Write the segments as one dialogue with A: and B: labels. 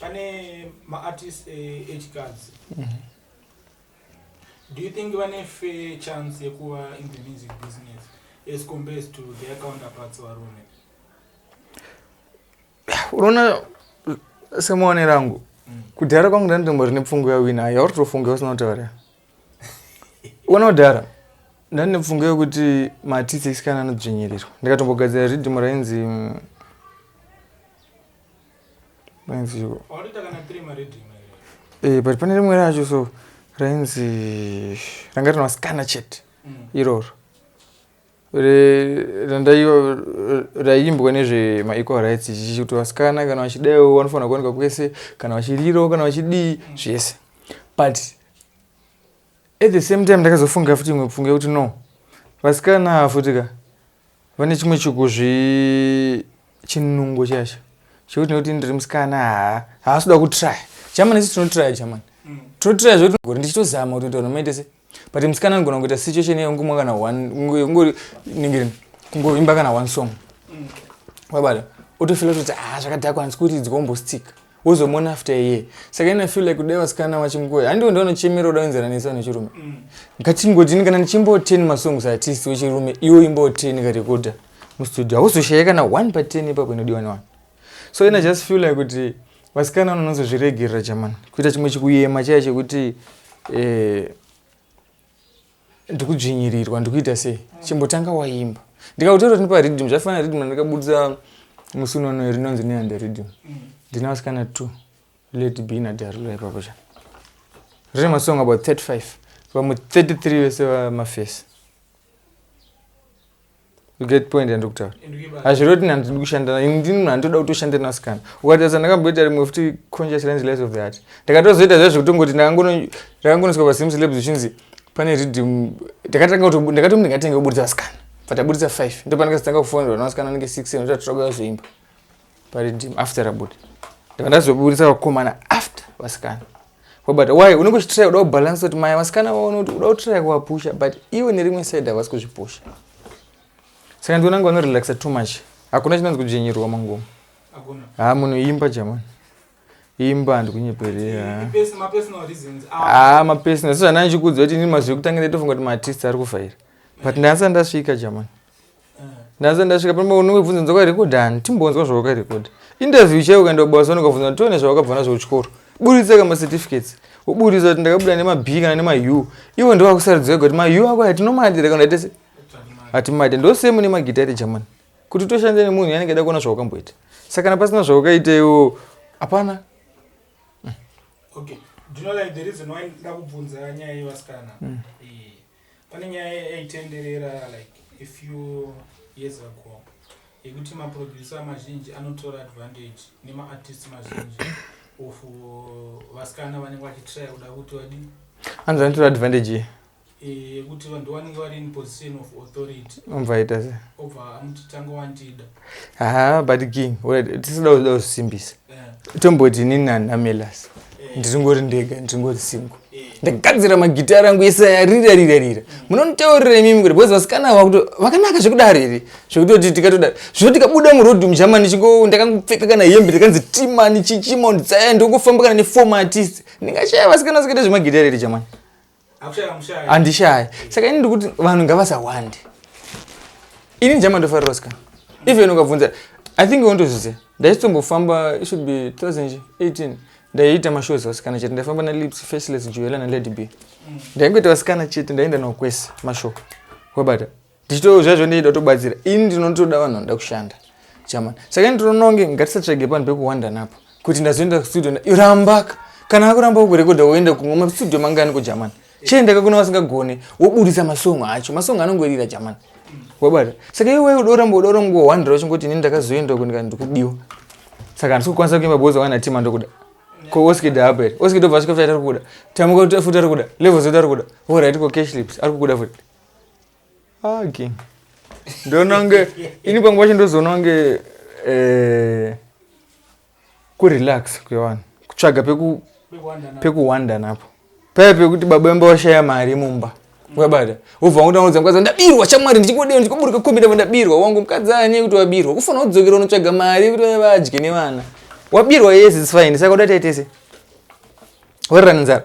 A: pane maartist eh, echikadzi mm -hmm. do you think vane fair chance yekuva in the music business as compares to their counterparts varume
B: unoona semaone rangu mm. kudhara kwangu ndanditombo rine pfungo yawina ayo autofunge usina kutaura uona kudhara ndandine pfungo yekuti maartist echisikana anodzvinyirirwa ndikatombogadzira ridhimu rainzi mm, maiziko eh, but pane rimwe racho so rainzi ranga rina vasikana chete mm. iroro raiimbwa nezvemaequal rights chichi kuti vasikana kana vachidaiwo vanofanira kuwanikwa kwese kana vachirirawo kana vachidii mm. zvese but at the same time ndakazofunga futi imwe pfunga yekuti no vasikana futi ka Vane chimwe chikuzvi chinungo chacho chekuti nekuti ndiri musikana haa haasi kuda kutraya jamani isi tinotraya jamani mm. tinotraya zvekuti gori ndichitozama kuti ndoita nomaite se but musikana anogona kuita situation iye ungomwa kana one ungori ningirini kungoimba kana one song mm. wabata otofila kutoti haa ah, zvakadhakwa handisi kuti dzikombostika wozomuona after a year saka ina feel like kudai vasikana vachimukoi handiwo ndaunochemera uda kuenzana nesa nechirume mm. ngatingodini kana ndichimboteni masongs artist wechirume iwo imboteni karekoda mustudio hauzoshaya kana one pa ten ipapo inodiwa newani so ina just feel like kuti vasikana vanonazozviregerera chamani kuita chimwe chikuyema chaya chekuti eh, ndikudzvinyirirwa ndikuita sei chimbotanga waimba ndikakutora kuti ndipa riddim zvaifanira riddim randikabudisa musi unonoyo rinonzi neande riddim ndina vasikana two lady b nadarula ipapo cha rine masong about 35 vamwe 33 vese vamafesi you get point yandikutaura hazvireve kuti nandi ndikushandira ini ndini munhu anditoda kutoshandira nasikana ukatasa ndakamboita rimwe futi conscious range lies of the heart ndakatozoita zvaizvo kutongoti ndakangonoswa pasim celebs zvichinzi pane ridim ndakatanga kuti ndakatomi ndingatenge kuburitsa vasikana but aburitsa five ndo pandakazotanga kufonera navasikana anenge six seven zvatotauya kuzoimba paridim after rabuda ndava ndazoburitsa vakomana after vasikana But why unenge uchitraya kuda kubalance kuti maya vasikana vaone kuti uda kutraya kuvapusha but iwe nerimwe side havasi kuzvipusha saka ndiona nga vanorelaxa too much hakuna chinonzi kudzvenyerwa mangoma ha munoimba jamani imba handikunyeperera ha mapersonal sezvandanichikuudzwa kuti ini mazwi ekutangira tofunga kuti maartist ari kuvhaira but ndasati ndasvika jamani ndaze ndasvika pamba unenge bvunza nzoka rekodani timbonzwa zvawakarekoda interview chaiyo ukaenda kubasa unokabvunza kuti tione zvawakabva nazvo kuchikoro buritsa kama certificates woburitsa kuti ndakabuda nema b kana nema u ivo ndovakusaridzwa kuti ma u ako yatinomadira kana tese hatimade ndosemu nemagitare jamani kuti toshanda nemunhu yanenge ada kuona zvawakamboita saka kana pasina zvawakaita iwo hapana okay. Do
A: you know, like, the reason why ndakubvunza nyaya yevasikana mm. pane nyaya yaitenderera like a few years ago yekuti maproducer mazhinji anotora advantage nemaartist mazhinji of vasikana vanenge vachitraya kuda kuti vadi anzi anotora
B: advantage ye yekuti
A: vanhu vanenge vari in position of authority obva aita se
B: obva amuti tanga
A: wandida haa but
B: king tisada kuda kusimbisa tomboti ini nanamelas ndiringori ndega ndiringori singo ndagadzira magitara angu ese yarira rira rira munonitaurira imimi kuti bcause vasikana vakuti vakanaka zvekudaro here zvekutoti tikatodaro zvino tikabuda muroad mugermany chingo ndakangopfeka kana hembe ndakanzi timani chichimond tsaya ndokufamba kana nefour maartist ndingashaya vasikana sikaita zvemagitara here jamani handishayi saka ini ndikuti vanhu ngavasawande ini ndichamandofarira ska even ukabvunza i think wondozviziva ndaisitombofamba should be 2018 ndaiita mashows vasikana chete ndaifamba nalips faceless joela nalady b ndaingoita vasikana chete ndaienda navo kwese mashow wabata ndichitowo zvaizvo ndinoda kutobatsira ini ndinotoda vanhu vanoda kushanda chamani saka ini tinononge ngatisatsvage panhu pekuwanda napo kuti ndazoenda kustudio rambaka kana akuramba kukurekodha woenda kumwe mastudio mangani kujamani chiendaka kuna vasingagone woburitsa masongo acho masongo anongorira jamani wabata saka iwe wai udoramba udaura nguva wandira wachingoti ini ndakazoenda kunika ndikudiwa saka handisi kukwanisa kuimba boza wana tima ndokuda ko oskida apa here oskida obva asvika futi atari kuda tamuka futi ari kuda level zoti ari kuda voraiti ko cashlips ari kukuda futi Haki. Ndonange ini pamwe pacho ndozoona kunge eh kurelax kwevanhu. Kutsvaga peku pekuwanda napo. Paya pekuti baba vemba vashaya mari mumba. Wabada. Wobva wakuda kuudza mukadzi ndabirwa shamwari ndichingodei ndichikuburuka kombi ndabva ndabirwa wangu mukadzi anye kuti wabirwa. Kufanira kudzokera unotsvaga mari kuti vaya vadye nevana. Wabirwa yes it's fine. Saka uda taitese. Wairara nenzara.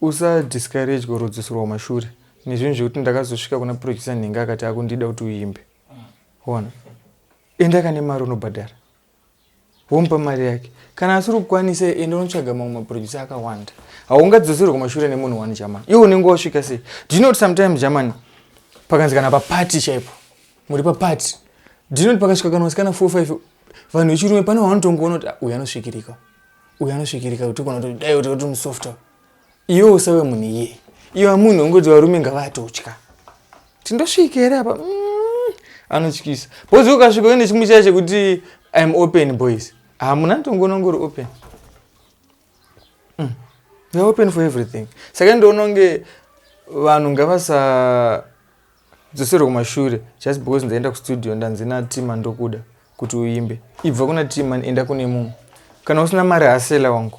B: Usa discourage or udzoserwa kumashure nezvinhu zvekuti ndakazosvika kuna producer nhenga akati akundida kuti uimbe. Ona. Enda kane mari unobhadhara. Womupa mari yake. Kana asiri kukwanisa enda unotsvaga mamwe maproducer akawanda. Haungadzoserwe kumashure nemunhu one German. Iwe unenge wasvika sei? Do you know sometimes German pakanzi kana pa party chaipo. Muri pa party. Do you know pakasvika kana wasikana 4 5 vanhu vechirume pane wanotongoona kuti ah, uyu anosvikirika. uyo anosvikirika kuti ukona kuti dai kuti musofta iwe usave munhu iye iwe munhu ungoti varume ngavatotya tindosvika here apa mm, anotyisa bozi ukasvika uine chimwe chaya chekuti im open boys hamuna tongoona ngori open mm. you're open for everything saka ndiononge vanhu ngavasa Dzoserwa kumashure just because ndaenda kustudio ndanzi naTman ndokuda kuti uimbe. Ibva kuna Tman enda kune mumwe. Kana usina mari hasela wangu.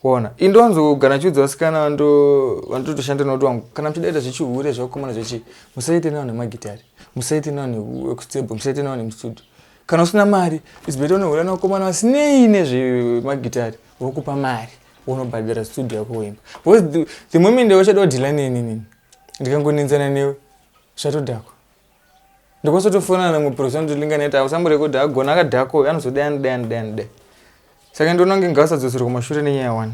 B: Waona? Ini ndonzogara ndichiudza vasikana vando vandotoshanda navo kuti wangu kana muchidaita zvechihure zvekukomana zvechi musaite navo nemagitari. Musaite navo nekuekustable, musaite navo nemustudio. Kana usina mari it's better unohura nevakomana vasinei nezvemagitari vokupa mari wonobhadhara studio yako woimba. Because the, the moment wachada kudhila neni nini ndikangonenzana newe zvatodhakwa ndikosotofonana namwe profesa ndolinga neta ausamborekodha agona akadhakwa uyo anozodai anodai anodai anodai saka ndoona kunge ngausadzosera kumashure nenyaya one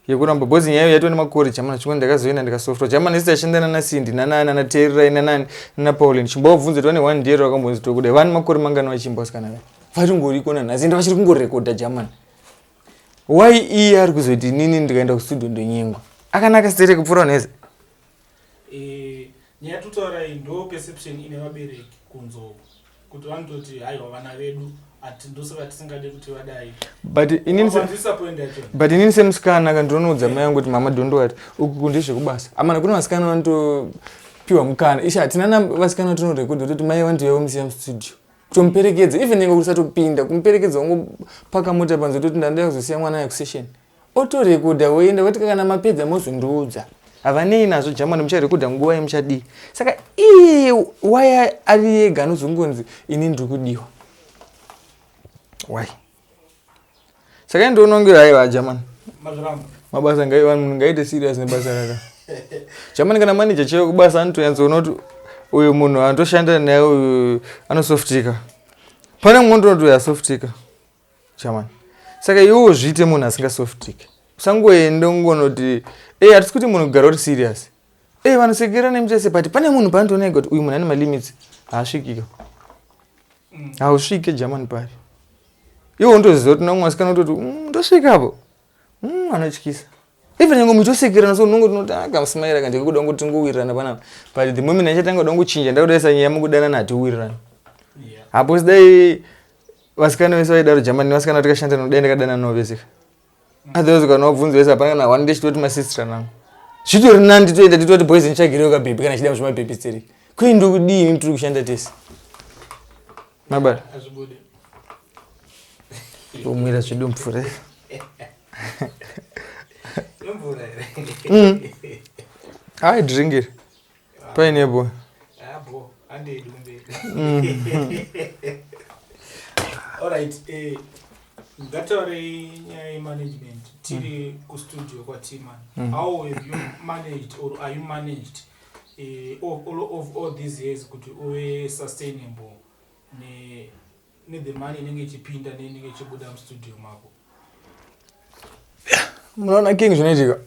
B: yekuramba bhozi nyaya yaitwa nemakore jamana chimwe ndakazoenda ndikasofrwa jamana isi tachenda nana sindi nanani nana tererai nanani nana paulin chimbovabvunza kuti vane one ndiero vakambonzi tokudai vane makore mangani vachimba vasikana vaya varingoriko nanhasi ende vachiri kungorekodha jamana Why iye ari kuzoti inini ndikaenda kustudio ndonyengwa? Akanaka stere kupfuura unheze? Eh,
A: nyaya totaura iyi ndo perception ine vabereki kunzoko kuti vanototi haiwa vana vedu ati ndosaka tisingade kuti vadai But inini se- Wazvisapoinda
B: yacho. but inini semusikana ka ndinonoudza mai yangu kuti mama don't worry uku ndezvekubasa amana kune vasikana vanotopiwa mukana ishe hatina na vasikana tinorekodha toti mai vanotouyawo musiya mustudio kutomuperekedza even inge kusatopinda kumuperekedza wongopaka mota panze toti ndandida kuzosiya mwana aya kusession otorekodha woenda voti kana mapedza mozondiudza havanei nazvo jamani mucharekodha nguva yemuchadii saka ii waya ari yega anozongonzi ini ndiri kudiwa why saka ini ndonongera haiva jamani mabasa ngaite serious nebasa raka jamani kana manager chaiyo kubasa anotoyanzoona kuti uyu munhu anotoshandira naye uyu anosoftika pane mumwe ndinoti uyu asoftika jamani saka iwewo zviite munhu asingasoftike usangoende ungonoti e hatisi kuti munhu kugara uri serious Eh vanosekera nemi chese but pane munhu paandiona ega kuti uyu munhu ane malimits haasvikika. Mm. Hausvike German pari. Iwo untoziva kuti naumwe asikana utoti mm, ndosvika apo. Mm, anotyisa. Even nyange muchitosekerana so unongo tinoti akamusimaira ah, kanje kuda kungo tingowirirana panapa. But the moment ndichatanga kuda kuchinja ndakudaisa nyaya mukudanana hatiwirirana. Yeah. Hapo sidai vasikana vese vaidaro German vasikana tikashanda nodai ndakadanana navo vese. otherwise kana wabvunza wese hapana kana one ndechitoti masister nangu zvitori nani titoenda titoti boys ndichagirewo kabhebhi kana chida muzvimabhebhi tsiri kwii ndokudii ini tiri kushanda tese mabara omwira zvedu mvura mm. aidringiri paine boy
A: alright eh ngataurei nyaya yemanagement tiri mm. kustudio kwatiman mm. how have you managed or are you managed uh, of, all, of all these years kuti uve sustainable ne ne the
B: money inenge ichipinda ne inenge ichibuda mu studio mako munoona king zvinoitika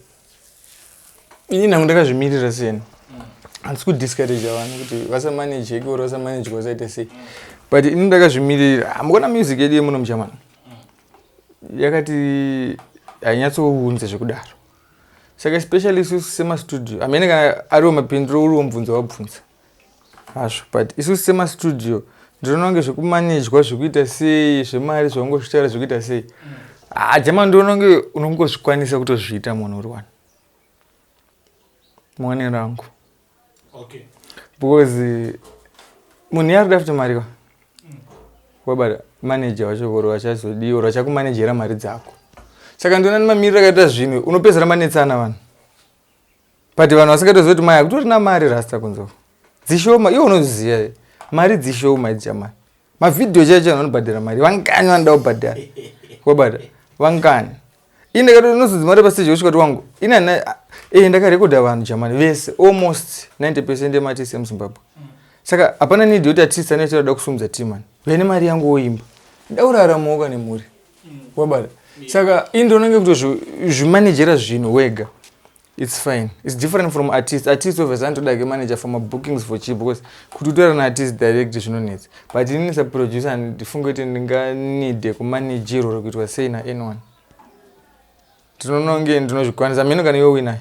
B: ini nangu ndakazvimirira siyeni mm. handisi kudiscourage vanhu kuti vasamanejeki or vasamanejeka vasaita sei mm. but ini ndakazvimirira hamukona music yedu yemuno muchamana mm. yakati hainyatsounze zvekudaro saka especially isu semastudio amene kana ariwo mapindiro uriwo mubvunzo wabvunza hazvo but isusu semastudio ndinoona kunge zvekumanejwa zvekuita sei zvemari zvaungozvitaura zvekuita sei haa ah, jama ndinoona kunge unongozvikwanisa kutozviita munhu uri wani muone rangu okay.
A: because
B: munhu yaari dafuti mari ka wabata manager wacho voro vachazodii or vachakumanejera mari dzako saka ndinoona nemamiriro akaita zvinhu unopedzera manetsana vanhu but vanhu vasingatoziva kuti maya kutori na mari rasta kunzoko dzishoma iwe unoziva here mari dzishoma idzi chamai mavhidhiyo chaicho vanhu vanobhadhara mari vangani vanoda kubhadhara wabata vangani ini ndakati unozodzi mari pastage kusvika kuti wangu ini ana ee eh, ndakarekodha vanhu jamani vese almost 90 percent ematisi emuzimbabwe saka hapana nidi yoti atisi anechatoda kusumudza timani vene mari yangu woimba ndauraramoka nemhuri wabata saka ini ndonange kutozvimanejera zvinhu wega it's fine it's different from artist artist obviously anotoda ke manager for mabookings for cheap because kuti utora naartist direct zvinonetsa but inini saproducer ndifunge kuti ndinganide kumanagerwa or kuitwa sei naanyone ndinononge ndinozvikwanisa mheno kana iwe winaye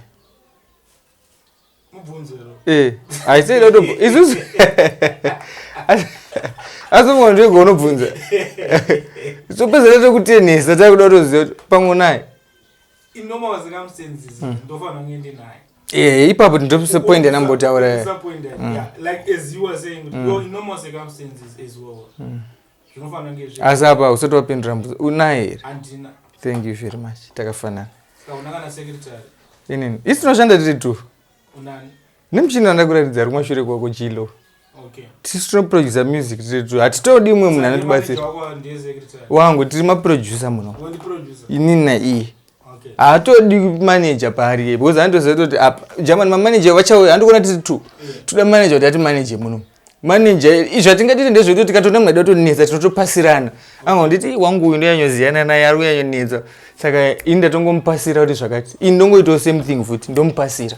B: Eh, haisei dodo isusu asi mwanzvego unobvunza so pezere tekutenhesa takuda kutoziva kuti pamwe naye
A: ee ipapo tindopise
B: point yanambotaura
A: asi apa usati wapindura
B: mbuzo unaye here thank you
A: very much
B: takafanana
A: inini isi
B: tinoshanda tiri two
A: nemuchini
B: wandakuratidza ari kumashure kwako jilo tisu
A: tinoproducer
B: music tiri two hatitodi umwe munhu anotibatsira wangu tiri maproducer muno inini naiye Okay. Haatodi manager paari iye because anotoziva kuti apa German manager vachauya handikuona tiri two. Yeah. Toda manager kuti ati manager muno. Manager zvatingatite ndezvekuti tikatoona mwana edu atonetsa tinotopasirana. Anga nditi wangu uyu ndiyanyoziyana naye ari uyanyonetsa. Saka ini ndatongomupasira kuti zvakati. Ini ndongoitawo same thing futi ndomupasira.